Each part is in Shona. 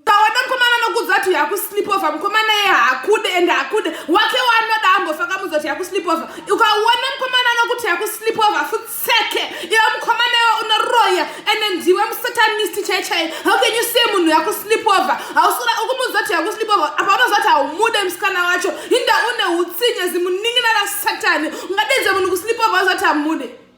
ukaona mukomana anokuudza kuti yakuslip over mukomana ye haakude and haakude wake waanoda ambofa kamuudza kuti yakuslip over ukaona mukomana anokuti yakuslip over futseke iwe mukomana iwe unoroya and ndiwe musatanist chai chai how can you say munhu yakuslip over hausura ukumuudza kuti yakuslip over apa unoziva kuti haumude musikana wacho hinda une utsinye zimunin'ina rasatani ungadedze munhu kuslip over uziva kuti hamude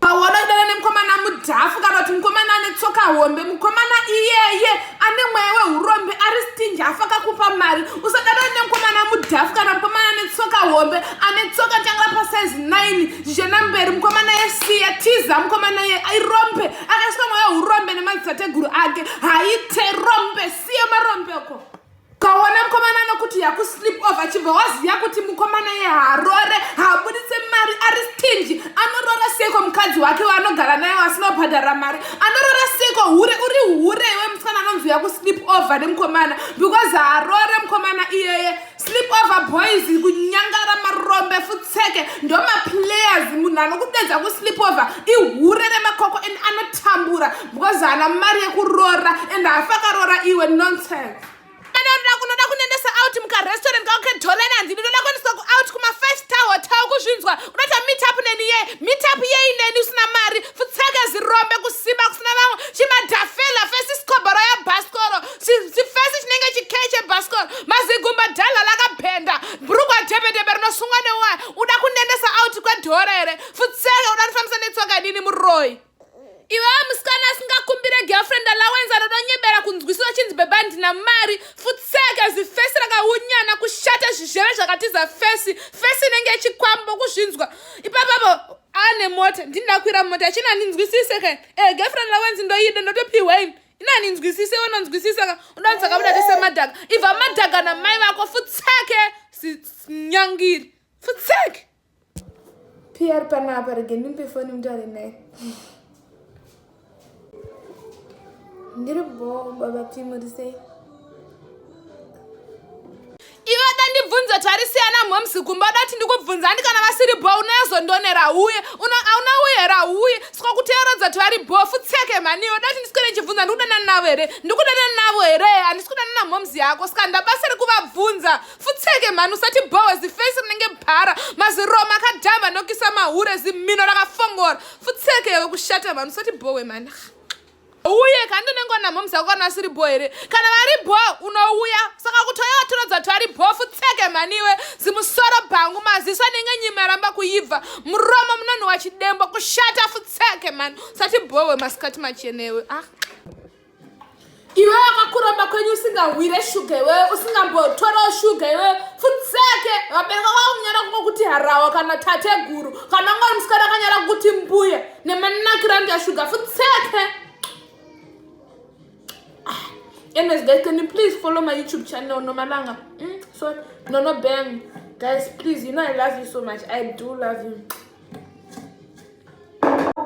pawanodana nemukomana mudhafu kana kuti mukomana ane tsoka hombe mukomana iyeye ane mweya wehurombe ari stingi afa kakupa mari usadana nemukomana mudhafu kana mukomana ane tsoka hombe ane tsoka tanga pasaizi 9 zvichena mberi mukomana yesiya tiza mukomana ye irombe akaiswa mweya wehurombe nemadzitateguru ake haite rombe siya marombe uko ukaona mukomana anokuti yakuslip off achibva waziva kuti mukomana ye harore haabuditse mari ari stingi anorora seko mukadzi wake waanogara naye wasinobhadhara mari anorora seko hure uri hure iwe musikana anonzi yakuslip over nemukomana because harore mukomana iyeye slip over boys kunyangara marombe futseke ndomaplayers munhu anokudedza kuslip over ihure remakoko and anotambura because haana mari yekuroora and hafa akaroora iwe nonsense kana unoda kunoda kunendesa out mukarestaurant kauke dollar nanzi ndinoda kuendeswa kuout kuma-five star hotel kuzvinzwa unoita meet up neni ye meet up yei neni usina mari futseke zirombe kusimba kusina vamwe chimadhafela fesi sikobhoro yabhasikoro chifesi chinenge chikee chebhasikoro mazigumba dhala lakabhenda brugwa dhebedhebe rinosungwa neuwaya uda kunendesa out kwedhora here futseke uda nifambisa netsoka nini muroyi iwe musikana asingakumbire girlfriend allowance anodonyebera kunzwisisa chinzi bhebha ndina mari futseke zifesi rakaunyana kushata zvizheve zvakatiza fesi fesi inenge ichikwambo kuzvinzwa ipapapo ane mota ndindakwira mota achina ndinzwisise ka e eh, girlfriend allowance ndoyida ndotopihwei ina ndinzwisise iwe unonzwisisa ka udanza kabuda tese madhaga ibva madhaga namai vako futseke sinyangiri futseke Pia ari panapa rege ndimpe foni mutaure naye. Ndiri bho baba Pia muri sei? Iwe atandibvunza tarisiyana moms kumba dati ndikubvunza andi kana vasiri bho unozondonera uye auna uyera uye saka kuteeredza kuti vari bho futseke mhani iwe dati ndiswere ndichibvunza ndikudanana navo here ndikudanana navo here handisi kudanana moms yako saka ndabasiri kuvabvunza futseke mhani usati bhowe zifesi rinenge bhara maziroma akadhamba nokisa mahure zimhino rakafongora futseke yave kushata mhani usati bhowe mhani uye kandi unenge wanamhomza kukwana asiri bho here kana vari bho unouya saka kutoya watorodza kuti vari bho futseke mhaniwe zimusoro bhangu maziso anenge nyima yaramba kuibva muromo munonhuwa chidembo kushata futseke mhani usati bhowe masikati machenewe ah. iwe wakakuromba kwenyu usingahwire shuga iwewe usingambotorawo shuga iwewe futseke vabereka kwakunyara kungo kuti harawa kana tate guru kana ngori musikana akanyara kuti mbuya nemanakira ndi ashuga futseke ah, anyways guys can you please follow my youtube channel nomalanga mm, so nono bang guys please you know i love you so much i do love you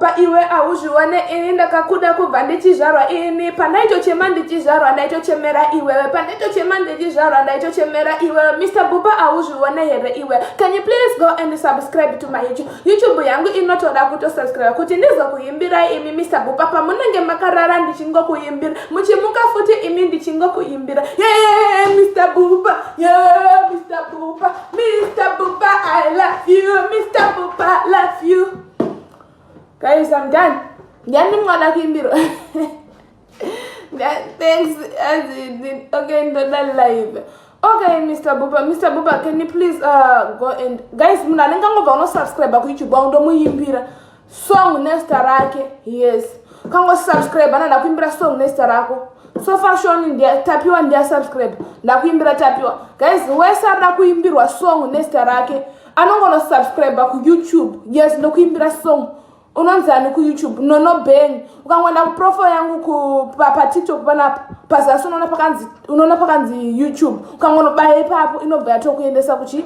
pa iwe hauzvione ini ndakakuda kubva ndichizvarwa ini pandaitochema ndichizvarwa ndaitochemera iwewe pandaitochema ndichizvarwa ndaitochemera iwewe mr buba hauzvione here iwe can you please go and subscribe to my youtube youtube yangu inotoda kutosubscribe kuti ndizokuimbirai imi mr buba pamunenge makarara ndichingokuimbira muchimuka futi imi ndichingokuimbira yee mr buba yee mr buba Mr. Bupa, I love you. Mr. Bupa, I love you. Guys, I'm done. Ndiyani mwana kuimbirwa. Thanks, as in, okay, ndoda live. Okay, Mr. Bupa, Mr. Bupa, can you please uh, go and... Guys, muna nenga ngova uno subscribe ku YouTube, wa ndo muyimbira. song nezita rake yes kango subscribe ana ndakuimbira song nezita rako so far shoni ndia tapiwa ndia subscribe ndakuimbira tapiwa guys wese arida kuimbirwa song nezita rake anongono subscribe kuyoutube yes ndokuimbira song unonzani kuyoutube nono bang ukangoenda kuprofile yangu patiktok panapa pazasi unoona pakanzi youtube ukangonobaye ipapo inobva yatokuendesa kuchi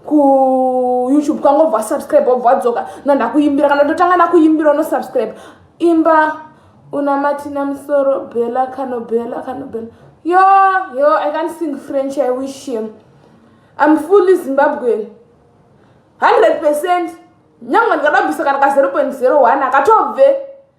kuyoutube kwanga obva wasubscribe obva wadzoka nandakuimbira kana ndotanga nakuimbira unosubscribe imba unamatina musoro bela kanobela kanobela yo yo i can't sing french i wish him im fully zimbabwean 100 percent nyangwe ndikadabvisa kana ka 0.01 akatobve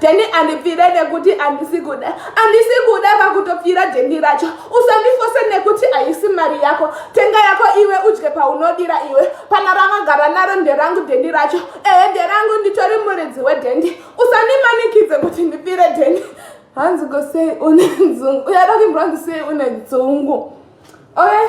Jeni andipfire nekuti andisi kuda andisi kuda vakutopfira jeni racho usandifose nekuti haisi mari yako tenga yako iwe udye paunodira iwe pana ravagara naro nderangu dhendi racho ehe nderangu nditori muridzi wedhendi usandimanikidze kuti ndipfire dhendi hanzi go sei une dzungu uyada kuimbira hanzi sei une dzungu oe okay.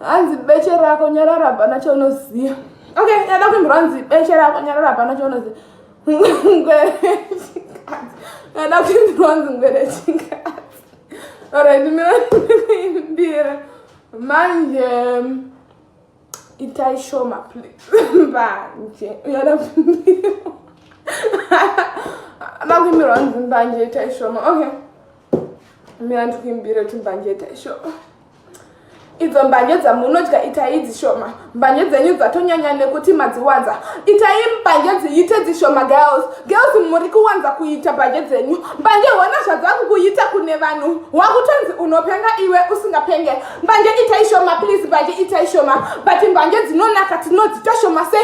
hanzi beche rako nyarara hapana chaunoziva okay yada kuimbirwa hanzi beche rako nyarara hapana chaunoziva ngwere chikadzi yada kuimbirwa hanzi ngwere chikadzi orit miraimbira manje itai shoma please mbanje yada kuimbirwa makuimbirwa hanzi mbanje itai shoma okay mira ndikuimbira kuti mbanje itai shoma idzo mbanje dzamunodya itai dzishoma mbanje dzenyu dzatonyanya nekuti madziwanza itai mbanje dziite dzishoma girls girls muri kuwanza kuita mbanje dzenyu mbanje hona zvadzakukuita kune vanhu wakutonzi unopenga iwe usingapenge mbanje itai shoma please mbanje itai shoma but mbanje dzinonaka tinodzita shoma se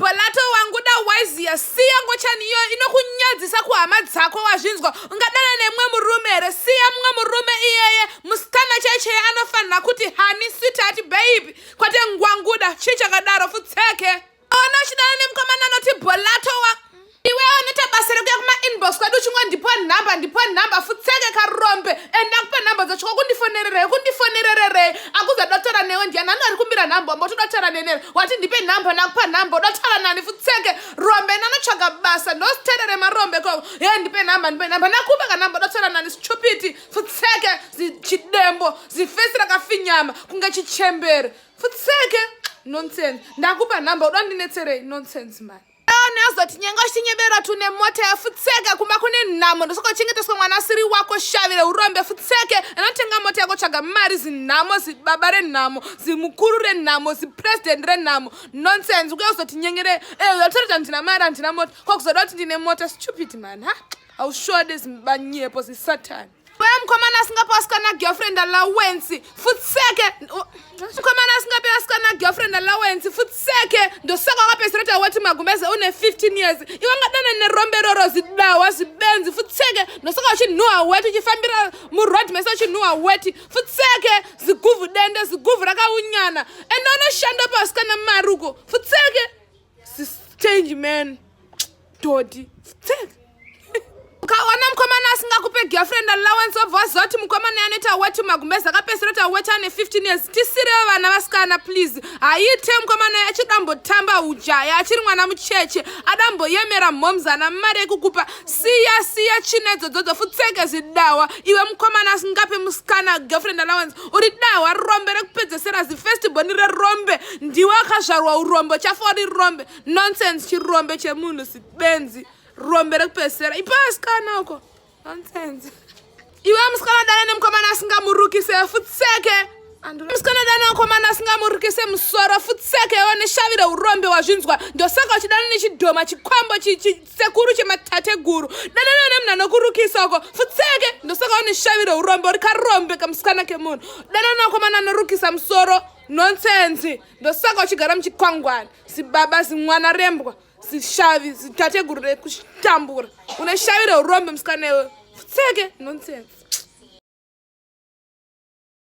bolato wanguda waiziya siya ngochani iyoyo inokunyadzisa kuhama dzako wazvinzwa ungadana nemumwe murume here siya mumwe murume iyeye musikana chaicheye anofanira kuti hani switati baibi kwate ngwanguda chii chakadaro futseke ona uchidana nemukomana anoti bolatowa iwe unoita basa rekuya kumainbox kwadi uchingo ndipo nhamba ndipo nhamba futseke karombe and ndakupa nhamba dzacho kwakundifonererei kundifonerererei akuza dotora newe ndiyani anu ari kumbira nhamba wambo todotora nenere wati ndipe nhamba ndakupa nhamba udotora nani futseke rombe nanotsvaga basa ndositerere marombe koko Hey, ndipe number ndipe number ndakupa ka number dotsera nani stupid futseke chidembo zifesi rakafinyama kunge chichembere futseke nonsense ndakupa number uda ndinetserei nonsense mani aone azoti nyengo chinyebera tune mota yafutseke kumba kune nhamo ndosokochengeteswa mwana asiri wako shavire urombe futseke anotenga mota yako tsvaga mari zinhamo zibaba renhamo zimukuru renhamo zipresident renhamo nonsense ukuya uzotinyengere eh, uzotaridza ndina mari handina mota kwakuzoda kuti ndine mota stupid man ha aushode zimbanyepo zisatani Baya mkomana asingape asikana girlfriend allowance futseke mkomana asingape asikana girlfriend allowance futseke ndosaka wakapesera kuti awati magumbeze une 15 years iwe ngadana nerombe roro zidawa zibenzi futseke ndosaka uchinhuwa weti uchifambira muroad mese uchinhuwa weti futseke ziguvhu dende ziguvhu rakaunyana ende unoshanda pasikana maruko futseke change man dodi ukaona mukomana asingakupe girlfriend allowance wabva waziva kuti mukomana anoita wati magumbezi akapesera kuti awati ane 15 years tisirewo vana vasikana please haiite mukomana uyo achidambotamba ujaya achiri mwana mucheche adamboyemera mhoms ana mari yekukupa siya siya china idzodzodzo futseke zidawa iwe mukomana asingape musikana girlfriend allowance uri dawa rombe rekupedzesera zifestiboni rerombe ndiwe akazvarwa urombo chafori rombe nonsense chirombe chemunhu sibenzi rombe rekupesera ipasikana uko nonsense iwe musikana dana nemukomana asingamurukise futseke musikana dana mukomana asingamurukise musoro futseke iwe neshavi reurombe wazvinzwa ndosaka uchidana nechidhoma chikwambo chisekuru chematateguru dana newe nemunhu anokurukisa uko futseke ndosaka une shavi reurombe uri karombe kamusikana kemunhu dana nemukomana anorukisa musoro nonsense ndosaka uchigara muchikwangwani zibaba zimwana rembwa zishavi zitateguru rekutambura une shavi reurombe musikana iwe futseke nonsense